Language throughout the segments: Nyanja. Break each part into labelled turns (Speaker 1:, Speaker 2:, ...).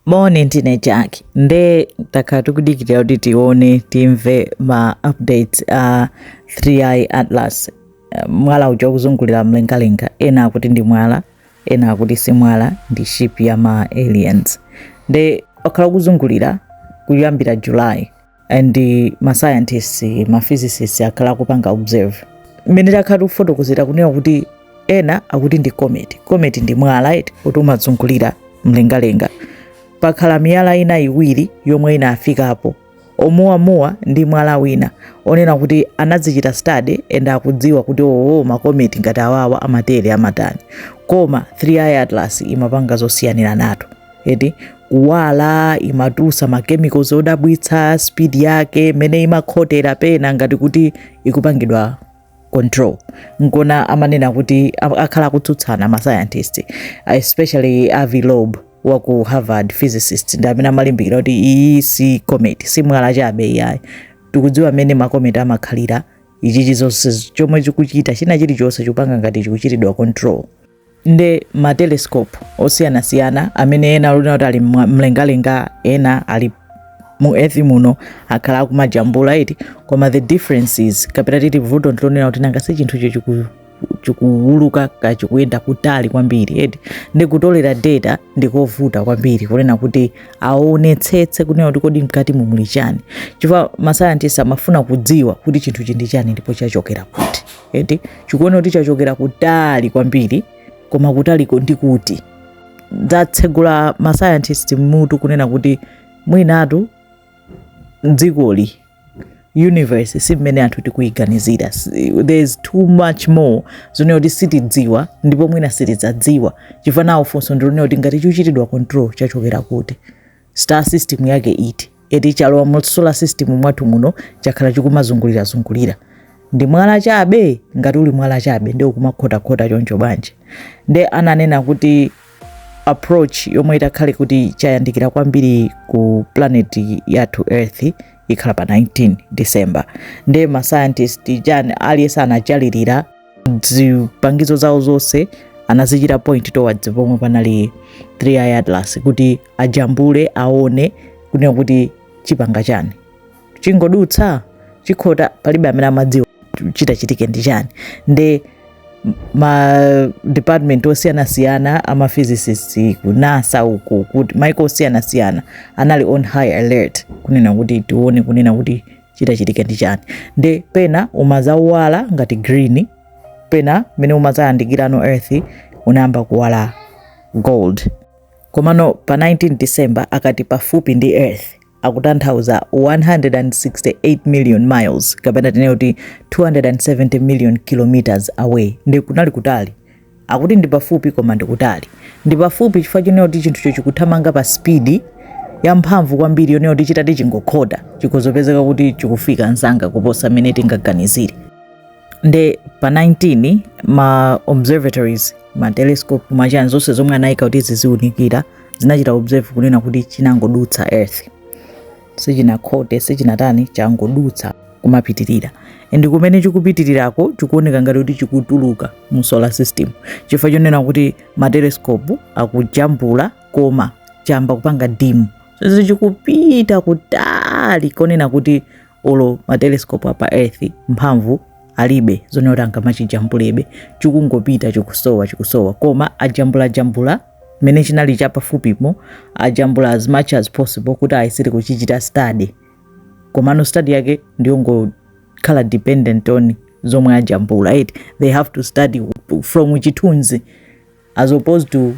Speaker 1: Moni ndine Jack nde takhala tikudikirira kuti tione timve ma updates a 3i Atlas eh, mwala uja ukuzungulira mlengalenga ena akuti ndi mwala ena akuti si mwala ndi ship ya ma aliens nde wakhala ukuzungulira kuyambira July and ma scientists ma physicists akhala akupanga observe mmene takhala tikufotokozera kunena kuti ena akuti ndi comet comet ndi mwala eti kuti umazungulira mlengalenga pakhala miyala ina iwiri yomwe inafikapo omuwamuwa ndi mwala wina onena kuti anazichita study and akudziwa kuti oo oh, makometi ngati awawa amatere amatani koma 3i atlas imapanga zosiyaniranatu eti kuwala imatusa ma chemicals odabwitsa speed yake mmene imakhotera pena ngati kuti ikupangidwa control nkona amanena kuti akhala akutsutsana mascientist especially Avi Loeb wa ku harvard physicist ndi amene amalimbikira kuti iyi si comet si mwala chabe iyayi tikudziwa mmene makometi amakhalira ichichi zonse chomwe chikuchita china chilichonse chikupanga ngati chikuchitidwa control nde ma telescope osiyanasiyana amene ena ali onena kuti ali mwa- mlengalenga ena ali mu earth muno akhala akumajambula eti koma the difference is kapena titi vuto ndilonena kuti nanga si chinthucho chiku- chikuwuluka ka chikuyenda kutali kwambiri eti ndi kutolera data ndikovuta kwambiri kunena kuti aonetsetse kunena kuti kodi mkatimu muli chani chifukwa masayantisti amafuna kudziwa kuti chinthuchi ndi chani ndipo chachokera kuti eti chikuoneka kuti chachokera kutali kwambiri koma kutaliko ndi kuti zatsegula mascientist mmutu kunena kuti mwinatu dzikoli universe si mmene anthu tikuyiganizira there is too much more zonena kuti sitidziwa ndipo mwina sitidzadziwa chifukwa now funso ndilonena kuti ngati chikuchitidwa control chachokera kuti Star system yake iti eti chalowa mu solar system mwathu muno chakhala chikumazungulira zungulira ndi mwala chabe ngati uli mwala chabe nde ukumakhotakhota choncho bwanji nde ananena kuti approach yomwe itakhale kuti chayandikira kwambiri ku planet yathu earth ikhala pa 19 december nde mascientist chani aliyense anatchalira zipangizo zawo zonse anazichita point towards pomwe panali 3i atlas kuti ajambule aone kunena kuti chipanga chani chingodutsa chikhota palibe amene amadziwa chitachitike ndi chani nde ma department osiyanasiyana ama physicists ku NASA uku kuti maiko osiyanasiyana anali on high alert kunena kuti tione kunena kuti chitachitike ndi chani nde pena umazawala ngati green pena mene umazayandikirano earth unayamba kuwala gold komano pa 19 december akati pafupi ndi earth akutanthauza 168 million miles kapena tinene kuti 270 million kilometers away ndi kunali kutali Akuti ndi pafupi koma ndi kutali. Ndi pafupi chifukwa chonena kuti chinthucho chikuthamanga pa speed yamphamvu kwambiri yonena kuti chitati chingokhota chikhozopezeka kuti chikufika nzanga kuposa mmene tingaganizire. Nde pa 19 ma observatories ma telescope machani zonse zomwe anayika kuti ziziunikira zinachita observe kunena kuti chinangodutsa earth. sichinakhote sichinatani changodutsa kumapitirira and kumene chikupitirirako chikuoneka ngati kuti chikutuluka mu solar system chifukwa chonena kuti matelescope akujambula koma chamba kupanga dim so chikupita kutali konena kuti olo matelescope apa earth mphamvu alibe zonena kuti angamachijambulebe chikungopita chikusowa chikusowa koma ajambulajambula mene chinali chapafupimo ajambula as much as possible kuti ayesere kuchichita study komano study yake ndiyongokhala dependent on zomwe ajambula they have to study from chithunzi as opposed to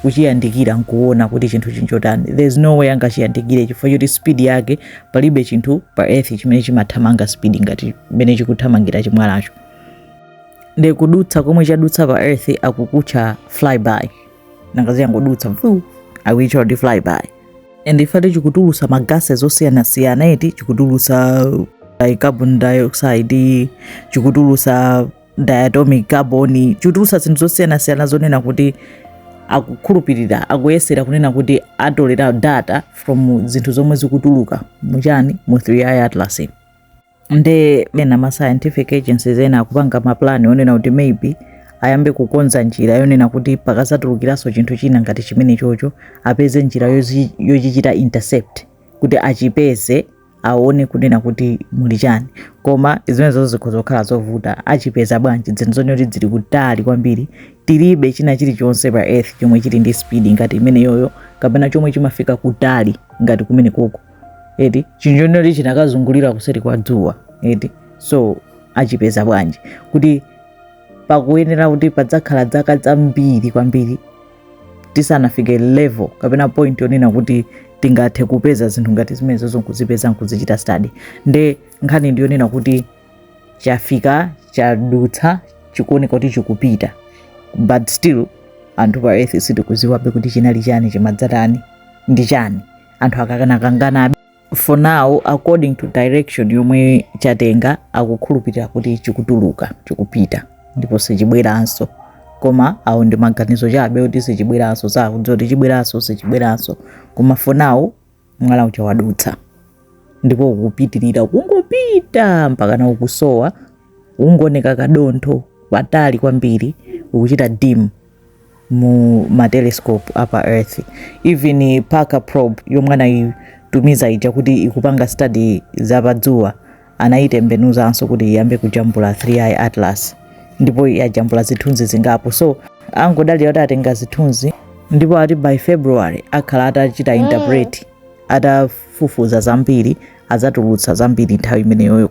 Speaker 1: kuchiyandikira nkuona kuti chinthu chinchotani there's no way angachiyandikire chifukwa choti speed yake palibe chinthu pa earth chimene chimathamanga speed ngati mene chikuthamangira chimwalacho nde kudutsa komwe chadutsa pa earth akukutcha flyby nanga si yangodutsa mfu akuitcha kuti flyby and if ati chikutulusa magases zosiyanasiyana eti chikutulusa carbon dioxide chikutulusa diatomic carbon chikutulusa zinthu zosiyanasiyana zonena kuti akukhulupirira akuyesera kunena kuti atolera data from zinthu zomwe zikutuluka muchani mu 3i atlas nde ena ma scientific agencies ena akupanga mapulani onena kuti maybe ayambe kukonza njira yonena kuti pakazatulukiranso chinthu china ngati chimenechocho apeze njira yozi- yochichita intercept kuti achipeze aone kunena kuti muli chani koma zimenezo zikhoza kukhala zovuta achipeza bwanji dzinthu zonena kuti dzili kutali kwambiri tilibe china chilichonse pa earth chomwe chili ndi speed ngati imeneyoyo kapena chomwe chimafika kutali ngati kumenekoko eti chinthu chonenoti chinakazungulira kuseri kwa dzuwa eti so achipeza bwanji kuti pakuyenera kuti padzakhala dzaka dzambiri kwambiri tisanafike level kapena point yonena kuti tingathe kupeza zinthu ngati zimenezozo nkuzipeza nkuzichita study nde nkhani ndiyonena kuti chafika chadutsa chikuoneka kuti chikupita but still anthu pa earth sitikudziwabe kuti chinali chani chimadzatani ndi chani anthu akakanakanganabe for now according to direction yomwe chatenga akukhulupirira kuti chikutuluka chikupita ndipo sichibweranso koma awo ndi maganizo chabe kuti sichibweranso sakudziwa kuti chibweranso sichibweranso koma for now mwala uja wadutsa ndipo ukupitirira kungopita mpaka na ukusowa ukungooneka kadontho patali kwambiri ukuchita dim mu ma telescope a pa earth even parker probe yomwe anayitumiza ija kuti ikupanga study za pa dzuwa anayitembenuzanso kuti iyambe kujambula 3i atlas ndipo yajambula zithunzi zingapo so angodalira kuti atenga zithunzi ndipo ati by february akhala atachita interpret atafufuza zambiri adzatulutsa zambiri nthawi imeneyoyo